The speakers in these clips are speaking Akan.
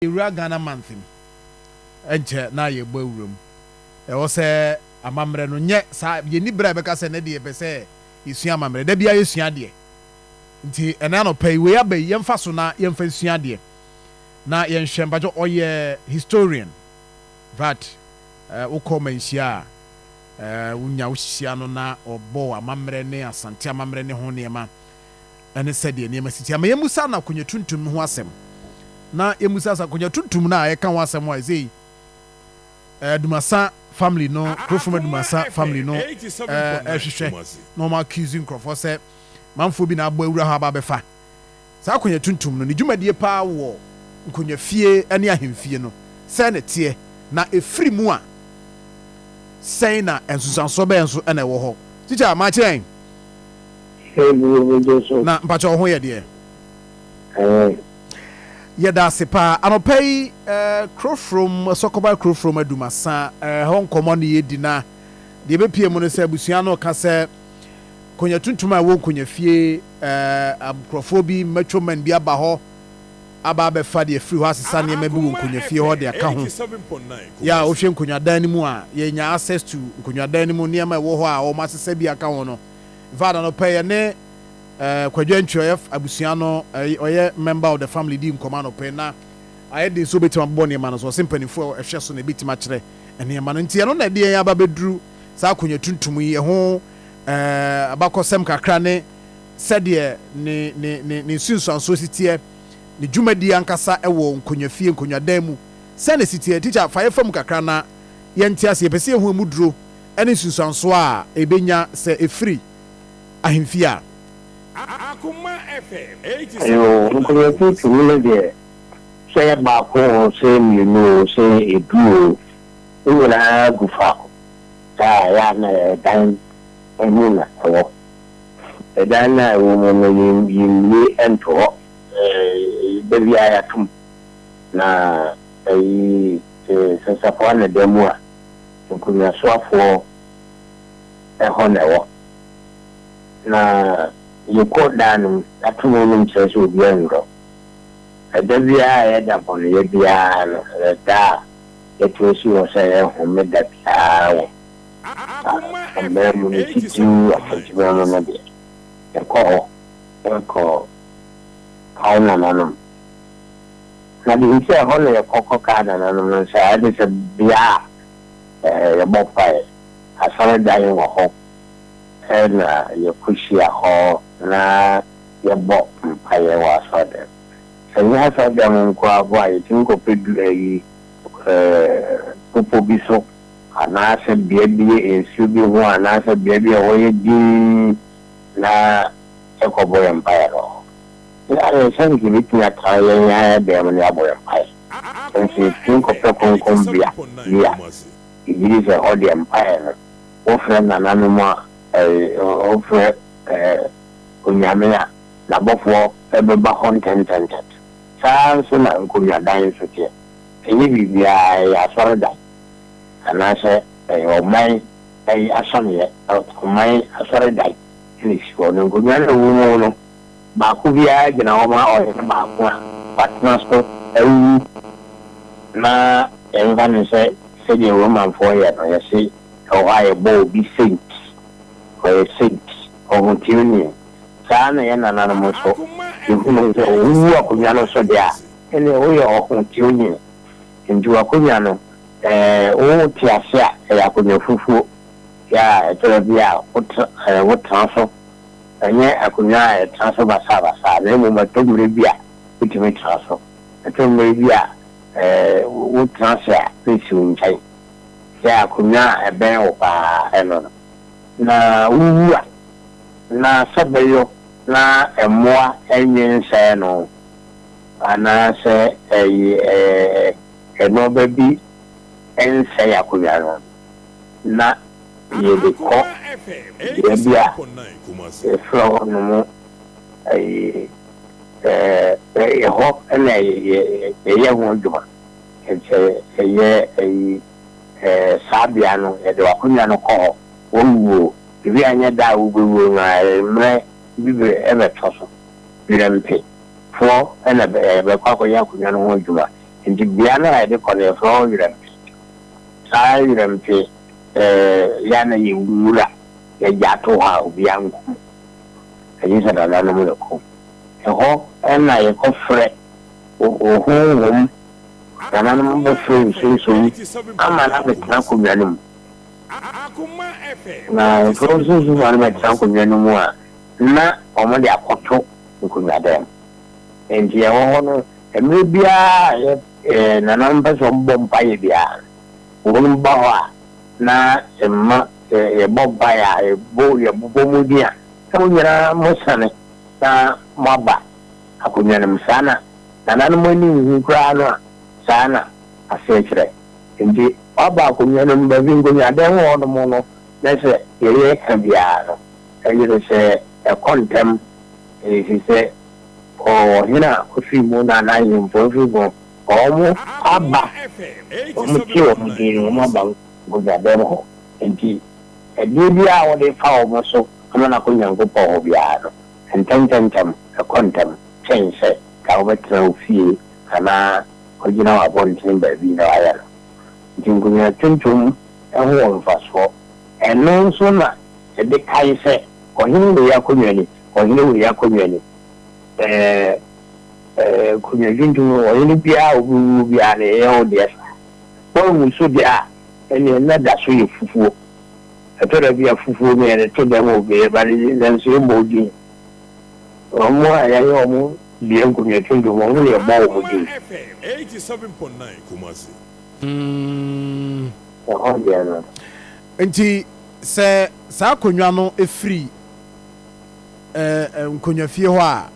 Yɛwura Ghana month mu, ɛnkyɛ na yɛbɔ awura mu. Ɛwɔ sɛ amammerɛ no nyɛ saa, yɛnni berɛ a yɛbɛka sɛ ɛnnɛ deɛ yɛpɛ sɛ yɛsua amammerɛ. Da biara yɛsua adeɛ. Nti ɛnnɛ anɔpa yi, wei aba yi, yɛmfa so na yɛmfa nsua adeɛ. Na yɛnhwɛ, mpakyɛ ɔyɛ historian but wokɔ manhyia a, wonya wohyia no na ɔbɔ amammerɛ ne Asante amammerɛ ne ho nneɛma. ne sɛdeɛ nneɛma siteɛ. Ma yɛmmisa no akonnwa tuntum no ho asɛm. Na yɛmmisa sɛ akonnwa tuntum no a yɛka ho asɛm a ɛsei Adumasa family no, Kurofrom Adumasa family no ɛrehwehwɛ na wɔn accuse nkurɔfoɔ sɛ manfoɔ bi na abɔ awura hɔ aba abɛfa saa akonnwa tuntum no. Ne dwumadie paa wɔ nkonnwafie ne ahemfie no, sɛn na ɛteɛ? Na ɛfiri mu a, sɛn na nsunsuansoɔ bɛn nso na ɛwɔ hɔ? Tikya, ma akyerɛ yɛn. Na mpakyɛ wo ho yɛ deɛ. Yɛda ase paa anɔpa yi ɛɛ Krofrom Sɔkɔba Krofrom Adumasa ɛhɔ nkɔmɔ ne yɛdi na deɛ bɛpie mu no sɛ abusua no ka sɛ konya tuntum a ɛwɔ nkonya fie ɛɛ nkurɔfoɔ bi mature man bi aba hɔ aba abɛfa deɛ firi hɔ asesa nneɛma bi wɔ nkonya fie hɔ deɛ aka ho yɛ a wohwɛ nkonyadan no mu a yɛnya access to nkonyadan no mu nneɛma ɛwɔ hɔ a wɔn asesa bi aka ho no Infact anɔpa yi yɛne eh, Kwadwo Antwi ɔyɛ abusua no eh, ɔyɛ member of the family di nkɔmɔ anɔpa yi na ayɛ den sɛ obetumi abobɔ nneɛma no so ɔsɛ mpanimfoɔ a ɛhwɛ so na ebetumi akyerɛ nneɛma no nti ɛno na ɛde yɛn aba bɛduru saa akonnwa tuntum yi ɛho eh, abakɔsɛm kakra ne sɛdeɛ ne ne ne ne nsunsuansoɔ si teɛ ne dwumadi ankasa ɛwɔ nkonnwafie nkonnwadan mu sɛne si teɛ tikya fa yɛfa mu kakra na yɛnte ase yɛpɛ sɛ yɛhu emu duro ne nsunsuansoɔ a ɛbɛnya sɛ ɛfiri ahemfie a. Yoo, nkoyɛku tumi no deɛ, sɛ ɛyɛ baako oo, sɛ ɛyɛ mmienu oo, sɛ ɛyɛ edu oo, ne nyinaa gu faako. Saa a, ɛyɛ a na ɛdan mu na ɛwɔ. Ɛdan no a ɛwɔ mu no, yɛmmue nto hɔ. Da biara yɛato mu, na ayi, sɛ safoa na ɛda mu a, Nkomiasoafoɔ hɔ na ɛwɔ. Na yɛkɔ daa no mu, yɛato mu nom kyerɛ sɛ obiara nnurɔ. Ɛda biara a ɛyɛ da bɔneyɛ biara no, ɛyɛ da a yɛtumi si hɔ sɛ ɛyɛ homeda biara wɔ aman mu no, titiriw Afanteman mu no deɛ, yɛkɔ hɔ kɔ kae nananom. Na mihu sɛ ɛhɔ na yɛkɔ kɔkaa nananom no nsa, ɛne sɛ, bea a yɛbɔ mpae, asɔredan wɔ hɔ na yekohyia hɔ na yɛbɔ mpae wɔ asɔredan mu. Sɛ ɛnyɛ asɔredan mu nko ara mpo a, yetumi kɔpɛ bepɔw bi so anaasɛ bea bi a nsu bi ho anaasɛ bea bi a ɛhɔ yɛ dinn na yɛkɔbɔ yɛn mpae wɔ hɔ. Hwɛ adesua nti yebetumi aka yɛn anan abɛn mu ne abɔ yɛn mpae. Sɛ nso yetumi kɔpɛ Kronkronbea bi a, yegye di sɛ hɔ deɛ mpae no, wofrɛ nananom a, ɛɛ, wofrɛ, ɛɛ, Onyame a, N'abɔfoɔ bɛba hɔ ntɛntɛntɛm. Saa ara nso na nkonnwadan nso teɛ. Ɛnyɛ biribiara ɛyɛ asɔredan, anaasɛ ɛyɛ ɔman ayi asɔneɛ, ɔman asɔredan na esi hɔ no, nkonnwa no a ɛwɔ mu no, baako biara gyina hɔ ma ɔyere baako a watena so awu na yɛmfa no sɛ sɛdeɛ Romanfoɔ yɛ no, yɛse ɛwɔ hɔ a yɛbɔ obi saint, ɔyɛ saint, ɔho tirinwi, saa ara na yɛn nananom nso, yɛhunu sɛ sɛ wowu akonnwa no so deɛ a, ɛneɛ woyɛ ɔho tirinwi, nti w'akonnwa no ɛɛ wote ase a ɛyɛ akonnwa fufuo, yɛ a ɛtɔ da bi a wotena so Ɛnyɛ akonnwa a yɛtena so basabasa, na mmom ɛtɔ mmere bi a wutumi tena so. Ɛtɔ mmere bi a wotena ase a wunsi wo nkyɛn sɛ akonnwa a ɛbɛn wo paa ɛno no, na wuwu a na sɛ bɛyɔ na mmoa nnwe nsɛe no anaasɛ ɛnnoɔba bi nsɛe akonnwa no. na yɛde kɔ bea bi a yɛfrɛ hɔ nom ayi ɛyɛ hɔ na yɛyɛ ho adwuma sɛ ɛyɛ ayi saa bea no yɛde w'akonwa no kɔ hɔ wawuo ebi anyɛ da a wobɛwuo no ara mmerɛ bi bɛ ɛbɛtɔ so werɛ mpe foɔ na bɛkɔ akɔyɛ akonwa no ho adwuma nti bea no a yɛde kɔ no yɛfrɛ hɔ werɛ mpe. Saa yerɛ no te sɛ yɛn a na yɛ nwura yɛ gya to hɔ a obia nko mu ɛgye sɛ nananom no kɔ mu ɛhɔ na yɛ kɔ frɛ ohonhom nananom bɛ frɛ nsunsum ama no abɛ tena akonwa no mu na frɛ nsunsum ma no bɛ tena akonwa no mu a na ɔmo de akɔto nkonwa dan mu. Enti yɛwɔ hɔ no, mmerɛ biara a yɛ nananom pɛ sɛ wɔbɔ mpaeɛ biara no, wɔnom ba hɔ a, na yɛma, sɛ yɛbɔ mpaeɛ a, yɛbɔ, yɛbobɔ mo din a, na mo nyinaa mosane na moaba akonnwa no mu. Saa na nananom ani nhu koraa no a, saa na aseɛ kyerɛ. Enti wɔaba akonnwa no mu, baabi nkonnwadɛm hɔnom no, na sɛ yɛyɛ ka biara no, ɛyere sɛ. Ɛkɔ ntɛm, efisɛ ɔhene a ofi mu na n'ahemfo fi mu. Wɔaba, wɔte wɔn din no, wɔaba nkonyaabeam hɔ. Enti ɛdeɛ biara a wode fa wɔn so ama no akɔ Onyankopɔn hɔ biara no, ntɛmntɛmntɛm, ɛkɔ ntɛm kyɛn sɛ nka wobɛtena wo fie anaa woagyina wɔ abɔnten baabi na woayɛ no. Enti nkonyaatontom ho wɔ mfasoɔ. Ɛno nso na yɛde kae sɛ Ɔhene wei akonnwa ni, ɔhene wei akonnwa ni. Ɛɛ, ɛɛ, nkonnwa tuntum no, ɔhene biara a obi wu biara no, ɛnyɛ wo deɛ saa. Woawu nso deɛ a, ɛnneɛ nna da so yɛ fufuo. Ɛtɔ da bi a fufuo no yɛde to dɛm obi no, but nanso yɛmmɔ wo din. Wɔn a yɛayɛ wɔn deɛ nkonnwa tuntum, wɔn na yɛbɔ wɔn din. Aurora FM eighty seven point nine Kumasi. Ɛhɔ deɛ no. Enti sɛ saa akonnwa no firi ɛɛ nkonnwafie hɔ a,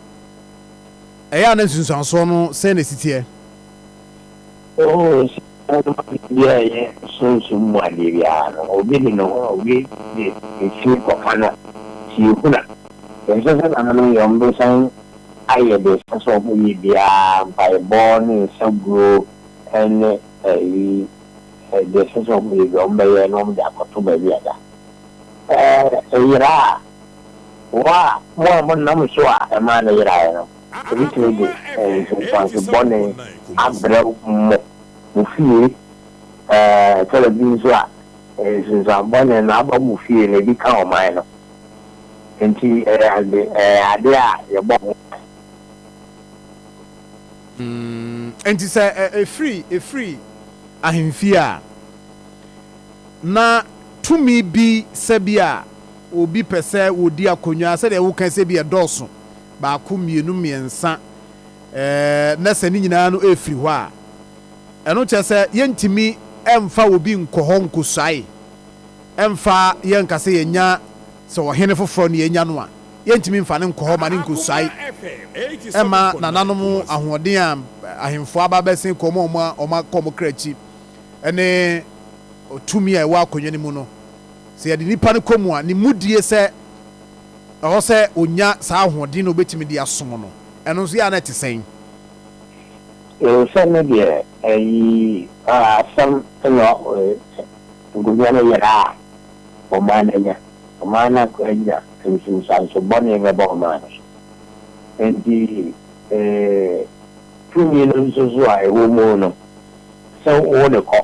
ɛyɛ a na nsunsuansoɔ no sɛn na ɛsi teɛ? Oo, saa ara na ɔde bi a ɛyɛ sunsum mu adeɛ biara no, obi de ne ho a obi de nsini kɔka no tie huna. Ɛnsɛ sɛ nananom yɛn bɛsan ayɛ deɛ ɛsɛ sɛ wɔyɛ biara, mpaebɔ ne nsa guo ne ayi. Sɛ deɛ ɛsɛ sɛ wɔyɛ bi a, wɔbɛyɛ na wɔde akɔto baabi a da a ɛyera a, mo a mo a monam so a ɛmaa no yeraeɛ no, wɔbɛtumi de nsunsuanso bɔne abrɛ mo. Mo fie, ɛtɔda bi nso a, nsunsuanso bɔne no aba mo fie na ebi ka ɔman no. Enti ɛyɛ adeɛ a yɛbɔ ho ban. Mm, enti sɛ ɛfiri, ɛfiri ahemfie a, na tumi bi sɛ bi a obi pɛ sɛ wɔdi akonnwa, sɛdeɛ woka sɛ bi ɛdɔɔso, baako, mmienu, mmiɛnsa, eh, na sɛ ne nyinaa no ɛfiri hɔ a, ɛno kyerɛ sɛ yɛntumi ɛmfa obi nkɔ hɔ nkɔsuae, ɛmfa yɛnka sɛ yɛnya Sɛ ɔhene foforɔ na yɛnya no a, yɛntumi mfa no nkɔ hɔ ma no nkɔsuae mma nananom ahoɔden a ahemfo aba abɛsen kɔ mu a wɔakɔ wɔn kra akyi ne tumi a ɛwɔ akonnwa no mu no. Sɛ yɛde nipa no kɔ mu a, ne mudie sɛ ɛwɔ sɛ ɔnya saa ahoɔden na ɔbɛtumi de asom no, ɛno nso yɛ a na ɛte sɛn? Sɛne deɛ ayi asɛm no nkonnwa no yera a. ɔmaa no anya, ɔmaa no anya nsunsuanso bɔne no bɔ ɔmaa no so. Enti tumi no nso so a ɛwɔ mu no, sɛ wode kɔ,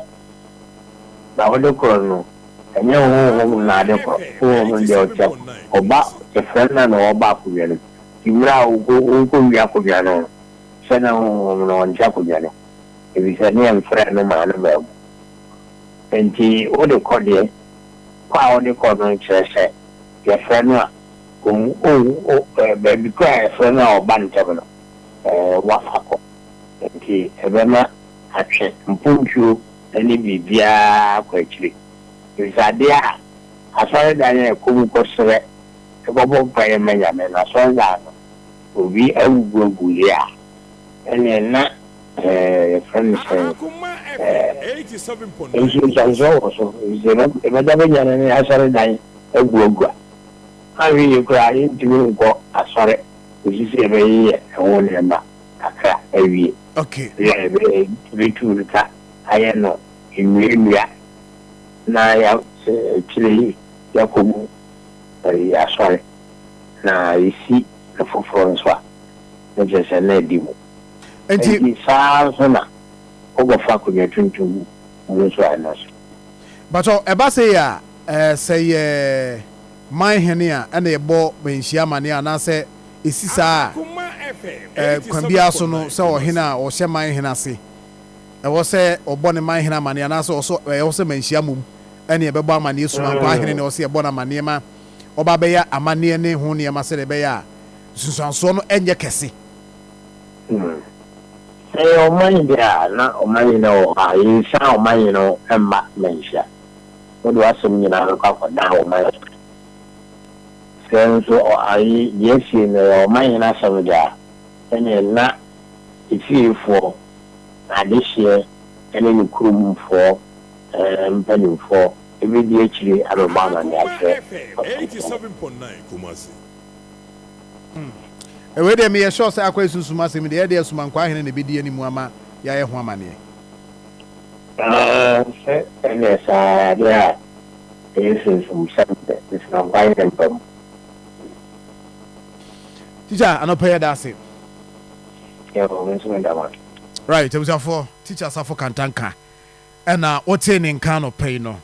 na wode korɔ no, ɛnyɛ honhom na ade korɔ, honhom no deɛ ɔkyɛ kɔ, ɔba kyɛfrɛ no na ɔba akonnwa no mu. Nti mmerɛ a worekɔwie akonnwa no no, hyɛ na honhom no ɔnkyɛ akonnwa no, ɛfiri sɛ ne yɛmfrɛɛ no maa no baa mu. Enti wode kɔ deɛ, kɔ a wode kɔ no nkyerɛ sɛ yɛfrɛ no a ɔwu, ɔwu, o, ɛ, baabi koraa a yɛfrɛ no a ɔba ntɛm no, ɛ, wafa kɔ. Enti ɛbɛma atwe mpontwuo ne biribiara akɔ akyiri. Nsadeɛ a asɔredan a ɛkɔ mu kɔsrɛ, kɔbɔ mpaeɛ ma Nyame no, asɔredan no, obi awugu agu yɛ a, ɛnneɛ na. eh, yɛfrɛ no sɛn eh, nso nsansɔ wɔ so, ɛfisɛ ɛbɛda bɛnya no ne asɔre dan aguagua, anhwɛ yie koraa yɛntumi nkɔ asɔre kɔsi sɛ yɛbɛyeyɛ ɛho nneɛma kakra awie, yɛ ɛbɛtu no ka ayɛ no nnuannua na yɛ sɛ akyire yi yɛakɔ mu asɔre na yɛsi no foforɔ nso a, na kyerɛ sɛ na adi mu. Enti. Enti saa ara nso na wobɛfa akonnwa tuntum mu nso a ɛno nso. Mpakyɛw, ɛba sei a, eh, sɛ yɛ man hene a, ɛna yɛbɔ manhyia amanneɛ a, anaasɛ ɛsi saa a, eh, kwan biara so no, sɛ ɔhene a ɔhyɛ man hene ase, ɛwɔ sɛ ɔbɔ ne man hene amanneɛ, anaasɛ ɔsɔ, eh, ɛwɔ sɛ manhyia mmom ɛne ɛbɛbɔ amanneɛ suma mpo ahene ne ɛwɔ sɛ yɛbɔ no amanneɛ ma ɔba bɛyɛ amanneɛ ne ho nneɛma sɛdeɛ ɛbɛyɛ a nsunsuansoɔ no ɛnyɛ kɛse. Hmm. Sɛ yɛ ɔman bi a, na ɔman yi na wɔ hɔ a, yɛnsan ɔman yi no mma manhyia. Wode w'asɛm nyinaa bɛkɔ akɔdan ɔman yi. Sɛ nso ɔ, ayi, deɛ asi yi no yɛ ɔman yi no asɛm deɛ a, ɛneɛ na efiefoɔ, adehyeɛ ne ne kuromfoɔ eh, mpanimfoɔ bɛdi akyire abɛbɔ amanneɛ akyerɛ ɔsomfoɔ no. Hmm. Wei deɛ meyɛ sure sɛ akwae sunsum asɛm yi deɛ ɛdeɛ Sumankwaa hene na ɛbɛdi animu ama yɛayɛ ho amaneɛ. Aah sɛ ɛnyɛ saa deɛ a ɛyɛ sunsumsɛm deɛ Nsumankwaa hene mpa mu. Teacher anɔpa yi ɛda ase. Yoo me nso meda mo ase. Right abusuafoɔ, Teacher Asafo Kanta nka ɛna wotee ne nka anɔpa yi no.